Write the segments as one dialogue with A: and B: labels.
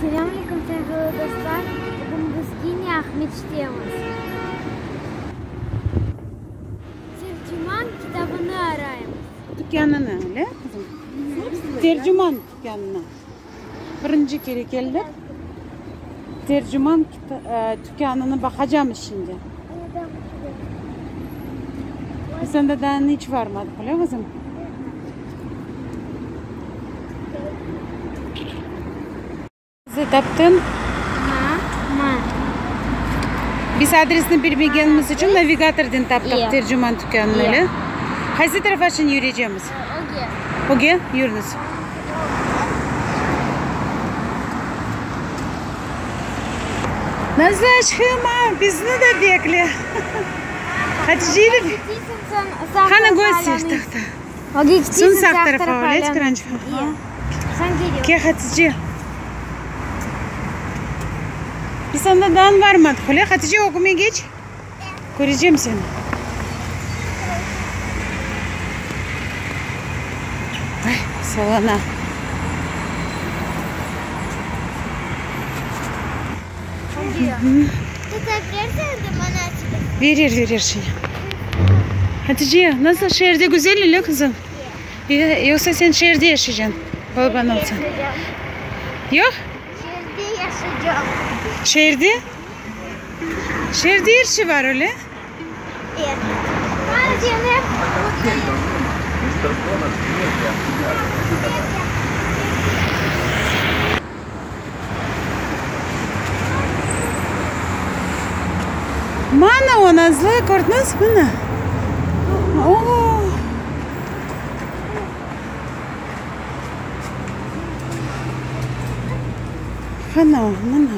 A: Selam aleyküm sevgili dostlar, bugün biz yine Aqmescittemiz. Tercüman kitabını arayımız. Tükânını, le
B: qızım? Tercüman tükânını. Birinci kere keldik. Terciman tükânını baqacam içinde. Biz anda daa iç barmadıq, öyle qızım? Bizi taptıñ? Mı? Biz adresni bilmegenimiz içün navigatordan taptıq terciman tükânını, öyle? Qaysı tarafa şimdi yürüycemiz? Öge. Öge? Yürüñiz. Nazlı aşkım aa bizni de bekle. Hatice'yle. Qani göster tahta. Son sağ tarafa öyle tıranç. Ke Hatice. Biz onda dan varmadık öyle. Hatice ögüme geç. Körecem seni. Ay, salana. Verir, verir şimdi. Hatice, nasıl şeerde güzel ile kızım? Yoksa sen şeerde yaşayacaksın? Baban olsa. Yok? Şeerde
A: yaşayacağım. Şeerde?
B: Şeerde er şey bar, öyle? Mana o, Nazlı, kördiñiz? Mana. Ana o, mana.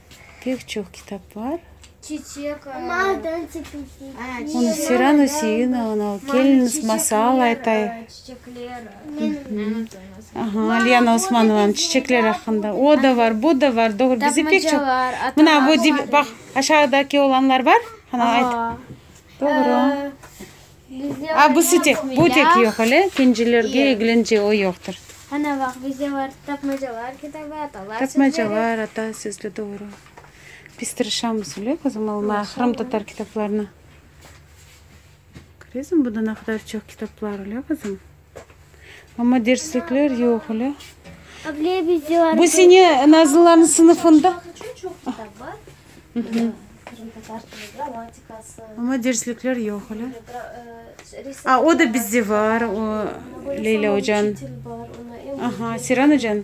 B: Pek çoq kitap bar.
A: Çiçek,
B: Onı Sira Nusiyina, onı Keliniz masal aytay. Çiçekler. Aha, Lena Osmanovanıñ Çiçekler aqqında. O da bar, bu da bar. Doğru, bizde pek çoq. Mına bu, baq, aşağıdaki olanlar bar. Ana, ayt. Doğru. A, bu sı tek, bu tek yoq ele, ikincilerge Yoq. eglince o yoqtır. Ana, baq,
A: bizde bar tapmacalar kitabı, atalar
B: sözleri. Tapmacalar, ata sözleri, doğru. Biz tırışamız ele, qızım, almağa Qırım tatar kitaplarını. Köresiñmi, bunda ne qadar çoq kitaplar ele, qızım. Amma derslikler yoq öyle.
A: Bu sene Nazlıların
B: sınıfında.
C: Amma derslikler
B: yoq öyle. A, o da bizde var, o Leyla ocan. Aha, Seren ocan.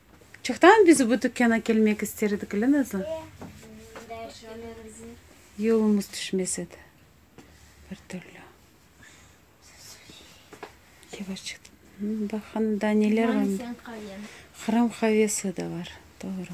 B: Çoqtan biz bu tükâna kelmek ister edik, ile Nazlı? Yolumız tüşmez edi, bir türlü. Yavaş çıqtı. Baq, hanım, daa neler var? Qırım qavesi de var, doğru.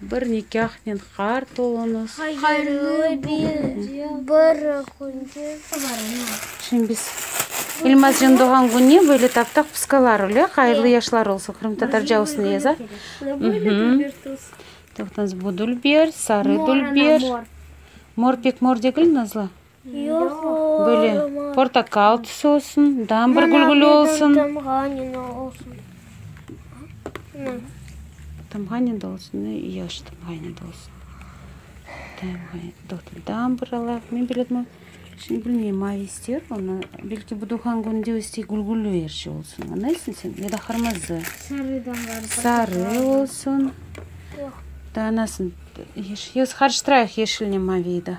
B: Bir nikâhnen qart oluñız. Hayırlı
A: bir künge.
B: Şimdi biz İlmazcan doğan kününe böyle taptaq pıskalar öyle. Hayırlı yaşlar olsun. Qırımtatarca olsun yaza. Toqtans bu dülber, sarı dülber. Mor pek mor degil Nazlı.
A: Böyle
B: portakal tüsü olsun, dambar gülgülü olsun. Tamğanine de olsun, yaş tamğanine de olsun. Dambar ala, men böyle etmem. Şimdi bilmeyim, mavi ister onu, belki bu doğğan kününde istey gülgülü her şey olsun, añlaysıñ sen, ya da qırmızı. Sarı olsun. Anasını, qarıştırayıq yeşilnen maviyi da.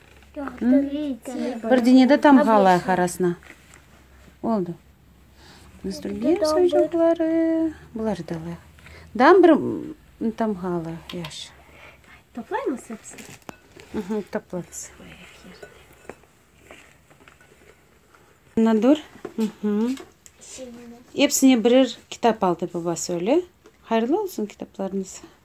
B: Bir denede tamğa alayıq arasına. Oldu. Nastülgen soyucaqları. Buları da alayıq. Dam bir tamğa alayıq. Yaşı.
C: Toplaymız
B: hepsini. Hı, toplarız. Nadur. Hepsine birer kitap aldı babası öyle. Hayırlı olsun kitaplarınız.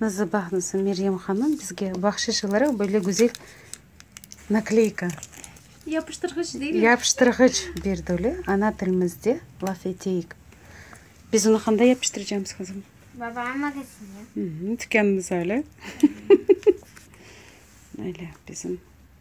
B: Nazar baqmasa Meryem hanım bizge bahşiş olaraq böyle güzel nakleyka,
C: Yapıştırğıç değil mi? yapıştırğıç berdi
B: öyle. Ana tilimizde laf eteyik. Biz onu qanda yapıştıracağımız qızım? Babamın
A: magazini. Hı hı, Tükânımız öyle.
B: Öyle bizim.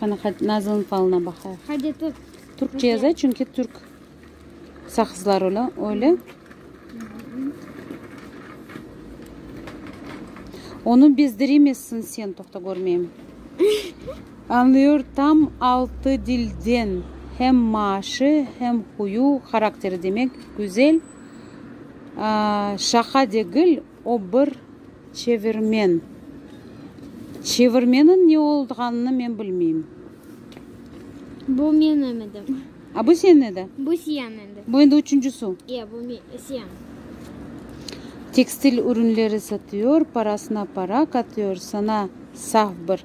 B: Qana, nazılnıñ falına baqayıq. Hadi tut.
A: Türkçe yaza, çünki
B: türk saqızlar ola, öyle. Onı bezdiremezsin sen, toqta, körmeyim. Añlıyor tam altı dilden, hem maaşı, hem huyu, harakteri, demek, güzel, şaqa degil, O bir çevirmen. Çevirmeniñ ne olğanını men bilmeyim.
A: Bu menim edim. A bu senin edi?
B: Bu siyan endi.
A: Bu endi üçünci su.
B: Ya bu me,
A: siyan. Tekstil
B: ürünleri satıyor, parasına para katıyor, sana saf bir.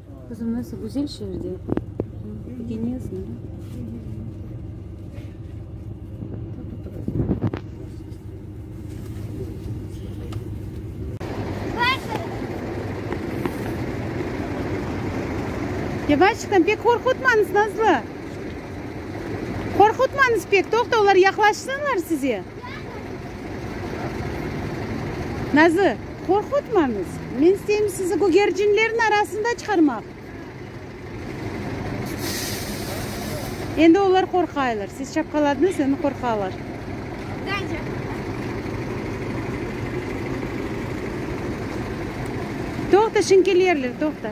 B: Qızım, nasıl güzel şeerde ögeniyasin da. Yavaştan, pek qorqutmañız, Nazlı. Qorqutmañız pek, toqta, olar yaqlaşsınlar size. Nazı, qorqutmañız! Men isteyim sizi gügercinlerniñ arasında çıqarmaq. Endi olar qorqaylar. Siz şapqaladıñız, endi qorqalar. Toqta, şimdi kelerler, toqta.